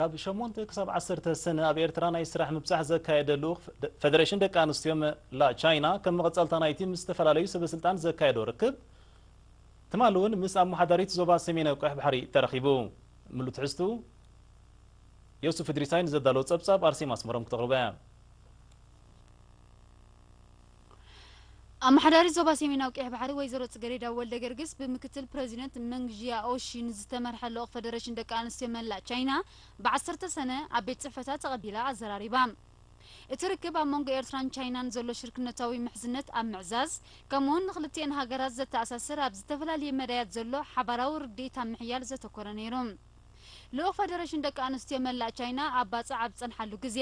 ካብ ሸሞንተ ክሳብ ዓሰርተ ሰነ ኣብ ኤርትራ ናይ ስራሕ ምብጻሕ ዘካየደ ልኡኽ ፈደረሽን ደቂ ኣንስትዮ መላእ ቻይና ከም መቐጸልታ ናይቲ ምስ ዝተፈላለዩ ሰበስልጣን ዘካየዶ ርክብ ትማሊ እውን ምስ ኣመሓዳሪት ዞባ ሰሜናዊ ቀይሕ ባሕሪ ተራኺቡ። ምሉእ ትሕዝትኡ ዮሱፍ እድሪሳይ ንዘዳለዎ ጸብጻብ ኣርሴማ ኣስመሮም ክተቕርቦ እያ። ኣመሓዳሪት ዞባ ሰሜናዊ ቀይሕ ባሕሪ ወይዘሮ ጽገሬዳ ወልደገርግስ ብምክትል ፕረዚደንት መንግ ዢያኦሺ ንዝተመርሐ ልኡኽ ፈደረሽን ደቂ ኣንስትዮ መላእ ቻይና ብ ዓሰርተ ሰነ ኣብ ቤት ጽሕፈታ ተቐቢላ ኣዘራሪባ። እቲ ርክብ ኣብ መንጎ ኤርትራን ቻይናን ዘሎ ሽርክነታዊ ምሕዝነት ኣብ ምዕዛዝ ከምኡ'ውን ንኽልቲኤን ሃገራት ዘተኣሳስር ኣብ ዝተፈላለየ መዳያት ዘሎ ሓባራዊ ርድኢት ኣብ ምሕያል ዘተኮረ ነይሩ። ልኡኽ ፈደረሽን ደቂ ኣንስትዮ መላእ ቻይና ኣብ ባጽዕ ኣብ ዝጸንሓሉ ግዜ፣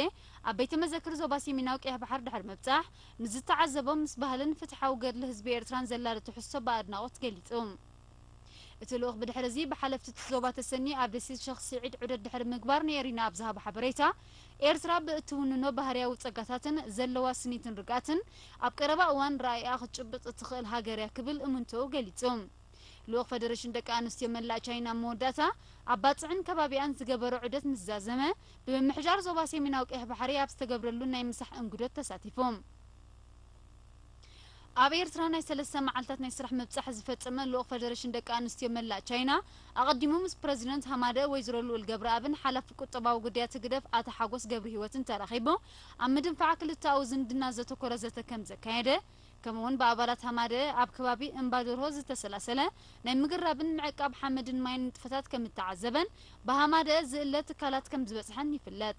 ኣብ ቤተ መዘክር ዞባ ሴሚናዊ ቀይሕ ባሕር ድሕሪ ምብጻሕ፣ ንዝተዓዘቦ ምስ ባህልን ፍትሓዊ ገድሊ ህዝቢ ኤርትራን ዘላሊ ትሕዝቶ ብኣድናቖት ገሊጹ። እቲ ልኡኽ ብድሕሪ'ዚ ብሓለፍቲ'ቲ ዞባ ተሰንዩ ኣብ ደሴት ሸኽ ስዒድ ዑደት ድሕሪ ምግባር ንኤሪና ኣብ ዝሃቦ ሓበሬታ፣ ኤርትራ ብእትውንኖ ባህርያዊ ጸጋታትን ዘለዋ ስኒትን ርግኣትን፣ ኣብ ቀረባ እዋን ራኢኣ ክትጭብጥ እትኽእል ሃገር'ያ ክብል እምንቶኡ ገሊጹ። ልኡኽ ፈደረሽን ደቂ ኣንስትዮ መላእ ቻይና ኣብ መወዳእታ ኣብ ባጽዕን ከባቢኣን ዝገበሮ ዑደት ምስ ዛዘመ፣ ብምምሕዳር ዞባ ሰሜናዊ ቀይሕ ባሕሪ ኣብ ዝተገብረሉ ናይ ምሳሕ እንግዶት ተሳቲፉ። ኣብ ኤርትራ ናይ ሰለስተ መዓልታት ናይ ስራሕ ምብጻሕ ዝፈጸመ ልኡኽ ፈደረሽን ደቂ ኣንስትዮ መላእ ቻይና፣ ኣቐዲሙ ምስ ፕረዚደንት ሃማደኤ ወይዘሮ ልኡል ገብረኣብን ሓላፊ ቁጠባዊ ጉዳያት ህግደፍ ኣቶ ሓጎስ ገብርሂወትን ተራኺቡ ኣብ ምድንፋዕ ክልተኣዊ ዝምድና ዘተኮረ ዘተ ከምዘካየደ ከምኡውን ብኣባላት ሃማደኤ ኣብ ከባቢ እምባዶርሆ ዝተሰላሰለ ናይ ምግራብን ምዕቃብ ሓመድን ማይን ንጥፈታት ከም እተዓዘበን ብሃማደኤ ዝእለ ትካላት ከም ዝበጽሐን ይፍለጥ።